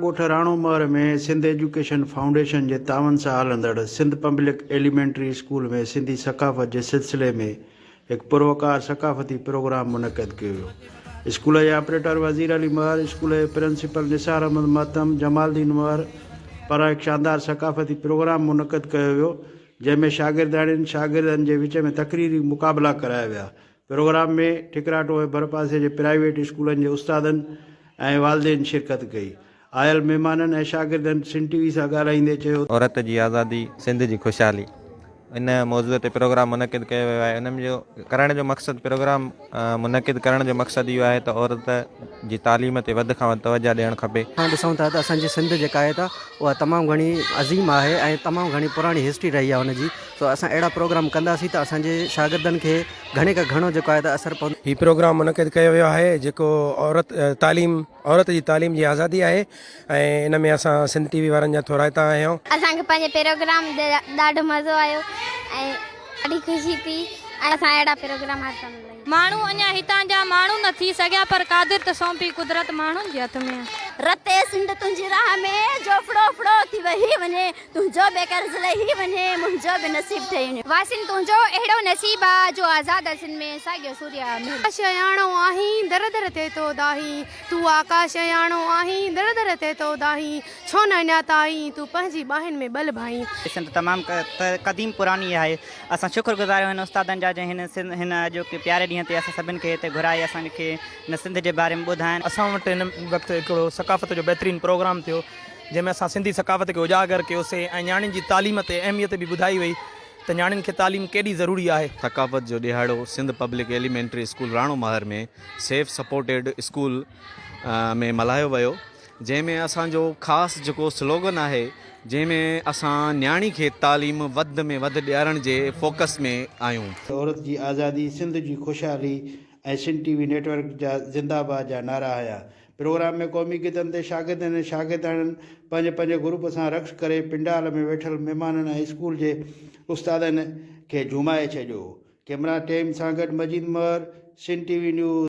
ڳوٺ Rano Mahar ۾ Sindh education foundation جي تعاون سان هلندڙ Sindh public elementary school ۾ Sindhi ثقافت جي سلسلي ۾ هڪ پروقار ثقافتي پروگرام منعقد ڪيو ويو اسڪول جي آپريٽر وزير علي مهر اسڪول جي پرنسپل نثار احمد مهتم جمال الدين مهر پاران هڪ شاندار ثقافتي پروگرام منعقد ڪيو ويو جنهن ۾ شاگردياڻين شاگردن جي وچ ۾ تقريري مقابلا ڪرايا ويا پروگرام ۾ ٺڪراٽو ۽ ڀرپاسي جي پرائيويٽ اسڪولن جي استادن ۽ والدين شرڪت ڪئي. آيل مھمانن ۽ شاگردن سنڌ ٽي وي سان ڳالھائيندي چيو ته. عورت جي آزادي، سنڌ جي خوشحالي ان موضوع تي پروگرام منعقد ڪيو ويو آهي ان جو ڪرڻ جو مقصد پروگرام منعقد ڪرڻ جو مقصد اهو آهي ته عورت جي تعليم تي وڌ کان وڌ توجه ڏيڻ کپي. اسان ڏسون ٿا ته اسان جي سنڌ جيڪا آهي ته اها تمام گهڻي عظيم آهي ۽ تمام گهڻي پراڻي هسٽري رهي آهي ان جي سو اسان اهڙا پروگرام ڪنداسين ته اسان جي شاگردن کي گهڻي کان گهڻو جيڪو آهي ته اثر پوندو. هي پروگرام منعقد ڪيو ويو آهي جيڪو عورت تعليم عورت جي تعليم جي آزادي آهي ۽ ان ۾ اسان سنڌ ٽي وي وارن جا ٿورائتا آهيون. اسان کي پنهنجي پروگرام تي ڏاڍو مزو آيو ۽ ڏاڍي خوشي ٿي ۽ اسان اهڙا پروگرام هر سال لاهيون. ماڻهو اڃا هتان جا ماڻهو نه ٿي سگهيا پر قادر ته سونپي قدرت ماڻهن جي هٿ ۾. رتي سنڌ تنهنجي راهه ۾، جو ڦڙو ڦڙو ٿي وهي وڃي. تنهنجو به قرض لهي وڃي، منهنجو به نصيب ٺهي وڃي. واسين تنهنجو اهڙو نصيب آ، جو آزاد اسين ۾ ساڳيو سوريء آ مهر. آڪاش اهياڻو آهين، در در تي تو دانهين. تون آڪاش اهياڻو آهين، در در تي تو دانهين. ڇو نه اڃا تائين، تون پنهنجي ٻانهن ۾ ٻل ڀائين. سنڌ تمام قديم پراني آهي. اسان شڪر گذار آهيون هن استادن جا جنهن هن هن اڄوڪي پياري ڏينهن تي اسان سڀن کي هتي گهرائي اسان کي هن سنڌ جي باري ۾ ٻڌائين. اسان وٽ هن وقت هڪڙو ثقافت جو بهترين پروگرام ٿيو جنهن ۾ اسان سنڌي ثقافت کي اجاگر ڪيوسين ۽ نياڻين جي تعليم تي اهميت به ٻڌائي وئي ته نياڻين کي تعليم ڪيڏي ضروري آهي. ثقافت جو ڏيهاڙو Sindh public elementary school Rano Mahar ۾ سيف سپورٽيڊ اسڪول ۾ ملهايو ويو جنهن ۾ اسان جو خاص جيڪو سلوگن آهي جنهن ۾ اسان نياڻي کي تعليم وڌ ۾ وڌ ڏيارڻ جي فوڪس ۾ آهيون. عورت جي آزادي، سنڌ جي خوشحالي ۽ Sindh T V network جا زنده باد جا نعرا هنيا. پروگرام ۾ قومي گيتن تي شاگردن ۽ شاگردياڻين پنهنجي پنهنجي گروپ سان رقص ڪري پنڊال ۾ ويٺل مهمانن ۽ اسڪول جي استادن کي جهومائي ڇڏيو. ڪئميرا ٽيم سان گڏ Majeed Mahar, Sindh T V news.